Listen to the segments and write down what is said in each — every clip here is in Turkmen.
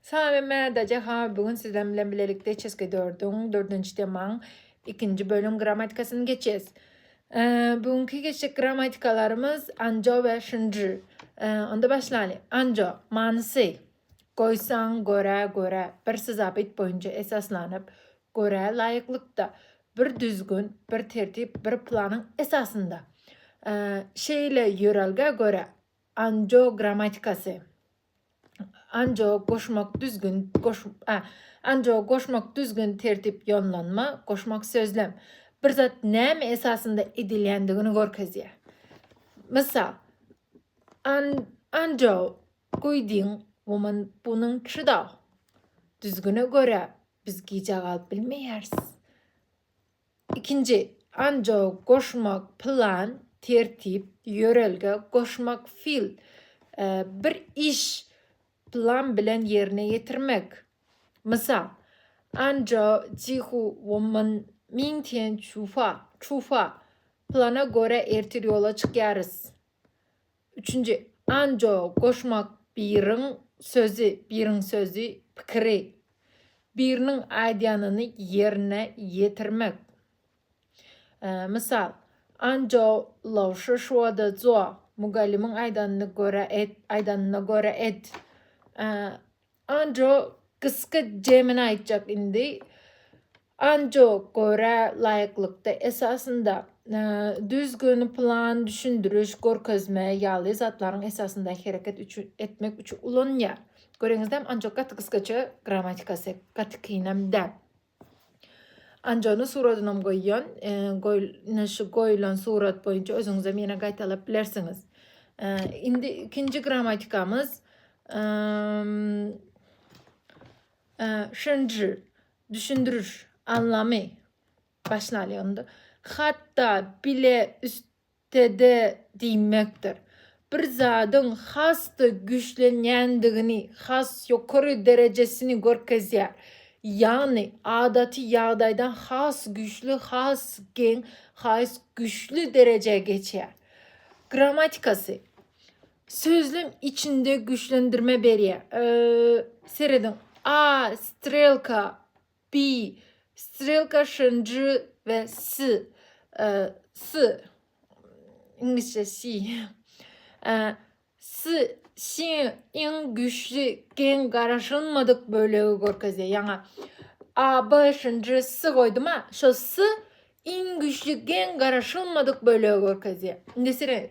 Salam Mädaja Hawa bu gün sizem bilen bilelikde Çeske dördüň dördünji temaň ikinji bölüm grammatikasyny geçes. Bu günki geçjek grammatikalarymyz anjo we şinji. Onda başlaly. Anjo manysy goýsaň görä görä bir syzabyt boýunça esaslanyp görä laýyklykda bir düzgün, bir tertip, bir planyň esasynda. Şeýle ýörelgä görä anjo grammatikasy. Anjog goşmak düzgün goş a Anjog goşmak düzgün tertip ýonlanma goşmak sözlem bir zat näme esasynda edilýändigini görkezýär. Mysal, An Anjog guýdiň woman bunyň çydaw. Düzgüne görä biz gijä galyp bilmeýäris. Ikinji, anjo, goşmak, plan, tertip, ýörelge, goşmak, fil, bir iş plan bilen ýerine ýetirmek. Mysal, Anjo Jihu Womman Ming Tian Çufa, Çufa, plana görä ertir ýola çykýarys. Üçünji, anjo, goşmak, biriň sözi, biriň sözi, pikiri, biriniň aýdýanyny ýerine ýetirmek. Mysal, Anjo lowşy şwada zo, mugallymyň aýdanyny görä et, aýdanyna görä et. Anjo gysga jemini aýtjak indi. Anjo görä laýyklykda esasynda düzgün, plan, düşündiriş, görkezme ýaly zatlaryň esasynda hereket üçin etmek üçin ulanýar. Göreňizdem anjo gaty gysgaça grammatikasy gaty kynam däl. Anjony suradynam goýýan. Goý, ine şu goýulan surat boýunça özüňizem ýene gaýtalap bilersiňiz. Indi ikinji grammatikamyz şenji düşündiriş anlamy başlaýar onda. Hatda bile üst TD diýmekdir. Bir zadyň has-da güýçlenýändigini, has ýokary derejesini görkezýär. Ýagny, adaty ýagdaýdan has güýçli, has geň, has güýçli derejä geçýär. Grammatikasy. Sözlem içinde güýçlendirme berýär. Serediň, A. Strelka Bi, strelka şyn j we s, s, iňlisçe si, s, siň iň güýçli geň garaşylmadyk bölegi görkezýär. Ýaňa a, b şyn j, s goýdum-a, şol s Iň güýçli gen garaşylmadyk bölegi görkezýär. Nesret.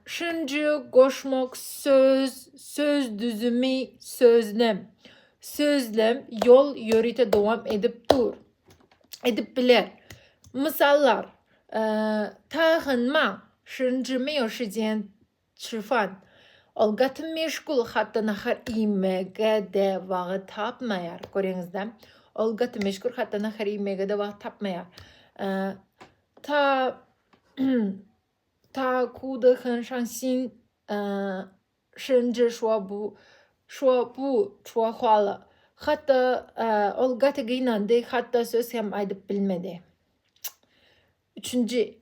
Şunjy, goşmak, söz, söz düzümi, sözlem. Sözlem ýol ýörite dowam edip dur. Edip biler. Mysallar. Tagynma, şunjymy ýoşidýän Çirfan. Ol gaty meşgul, hatda nahar iýmege-de wagt tapmaýar. Göreňizdä? Ol gaty meşgul, hatda nahar iýmege-de wagt tapmaýar. Ta Ta kuda han şan sin şin ji şua bu şua bu şua huala. Hatda ol gaty gynandy, hatda söz hem aýdyp bilmedi. Üçünji.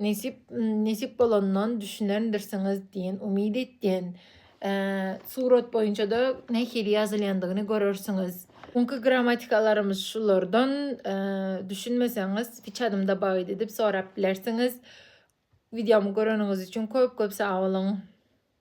Nesip nesip bolandan düşünendirsiňiz diýen umyt etýän. Surat boýunça-da nähili ýazylýandygyny görersiňiz. Öňki grammatikalarymyz şulardan. Düşünmeseňiz, piçadymda baýt edip sorap bilersiňiz. Wideomy göreniňiz üçin köp-köp sag boluň.